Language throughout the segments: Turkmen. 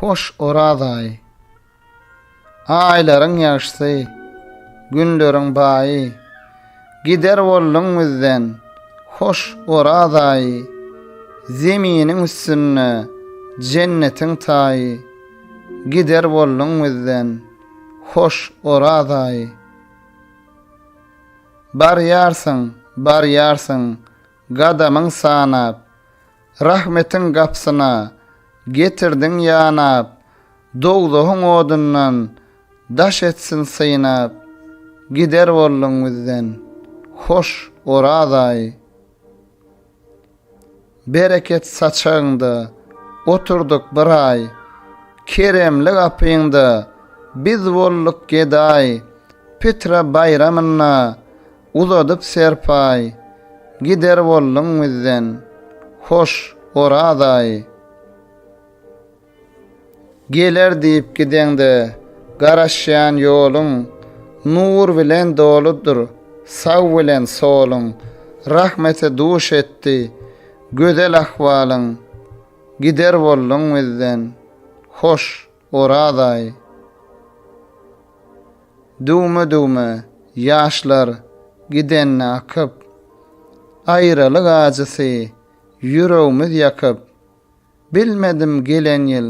Hoş Oraz aýy. Aýlaryň ýagşysy, günleriň baýy. Gider bolduň bizden, hoş Oraz aýy. Zeminiň üstünde jennetiň taýy. Gider bolduň bizden, hoş Oraz aýy. Barýarsyň, barýarsyň, Gadamyň sanap. Rahmetiň gapsyna Getirdiň ýanap. Dowzahyň odundan Daş etsin synap. Gider bolduň bizden Hoş, Oraz aýy. Bereket saçagyňda Oturdyk bir aý. Keremli gapyňda Biz bolduk gedaý. Pitra baýramynda Uzadyp serpaý, gider bolduň bizden, hoş, Orazaý. Geler diýip gideňde, garaşýan ýoluň, nur bilen doludyr, sag bilen soluň, rahmete duş etdi, gözel ahwalyň, gider bolduň bizden, hoş. Oraz aýy. Düwme-düwme ýaşlar gidenine akyp, Aýralyk ajysy ýüregmiz ýakyp, Bilmedim gelen ýyl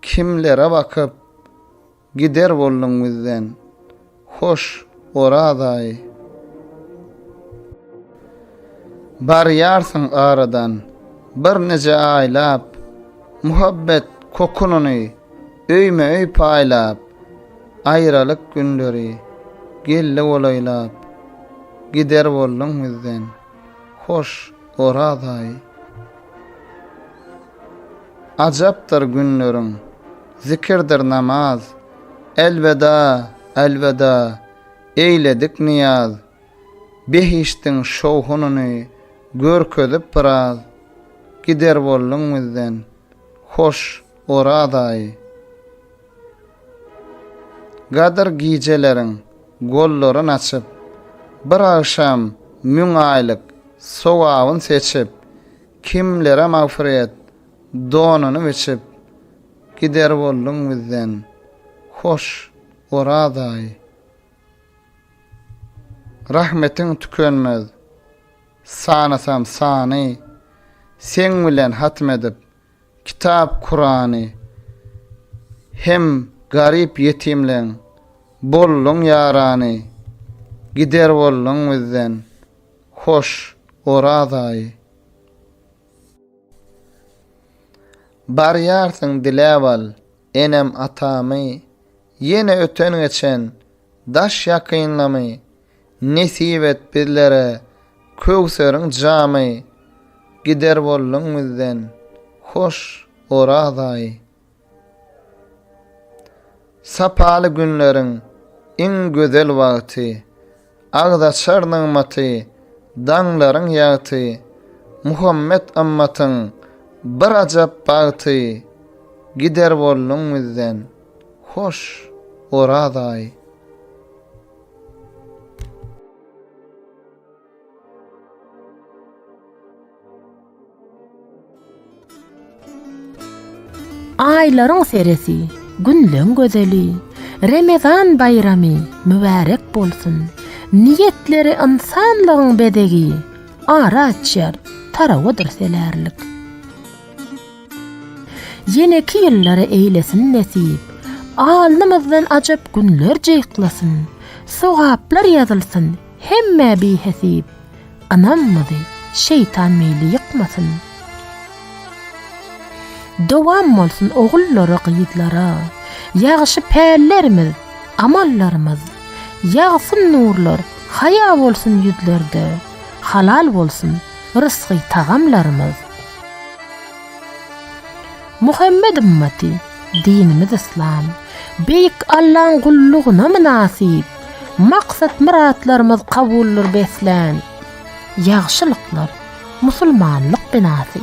kimlere bakyp, Gider bolduň bizden. Hoş, Orazaý. Barýarsyň aradan birnije aýlap, Muhabbet kokunyny öýme-öý paýlap, Aýralyk günleri geldi golaýlap, Gider bolduň bizden, hoş, Orazaý. Ajapdyr günleriň, zikirdir namaz, Elweda, elweda, eýledik nyýaz, Behişdiň şowhunyny görkezip biraz, Gider bolduň bizden, hoş Oraz aýy. Gadyr gijeleriň gollaryn açyp, Bir agşam müň aýlyk sogabyn seçip, Kimlere magfyret donuny biçip, Gider bolduň bizden. Hoş, Orazaý! Rahmetiň tükenmez. Sanasam sany. Seň bilen hatm edip, Kitap Kurany. Hem garyp ýetimleň bolduň ýarany. Gider bolduň bizden. Hoş, Orazaý! Barýarsyň diläp al, enem atamy, Ýene öten-geçen daş ýakynlamy, Nesip et bizlere köwseriň jamy, Gider bolduň bizden hoş Orazaýy. Sapaly günleriň iň gözel wagty, Agzaçar nygmaty, daňlaryň ýagty, Muhammet ymmatyň bir ajap bagty, Gider bolduň bizden, hoş, Oraz aýy. Aýlaryň seresi, günleň gözeli, Remezan baýramy mübärek bolsun! Niýetleri ynsanlygyň bezegi, Ara açýar, tarawadyr selärlik. Ýeneki ýyllara eýlesin nesip, Alnymyzdan ajap günler jyklasyn, Sogaplar ýazylsyn, Hemmä bihesip ynamymyzy şeýtan meýli ýykmasyn. Dowam bolsun ogullara gyzlara ýagşy pällerimiz amallarymyz ýagsyn nurlar haýa bolsun ýüzlerde halal bolsun rysgy tagamlarymyz. Muhammet ymmaty, dinimiz yslam. Beýik Allaň gullugyna mynasyp. Maksat-myratlarymyz kabuldyr beslän. Ýagşylyklar, musulmanlyk binasy.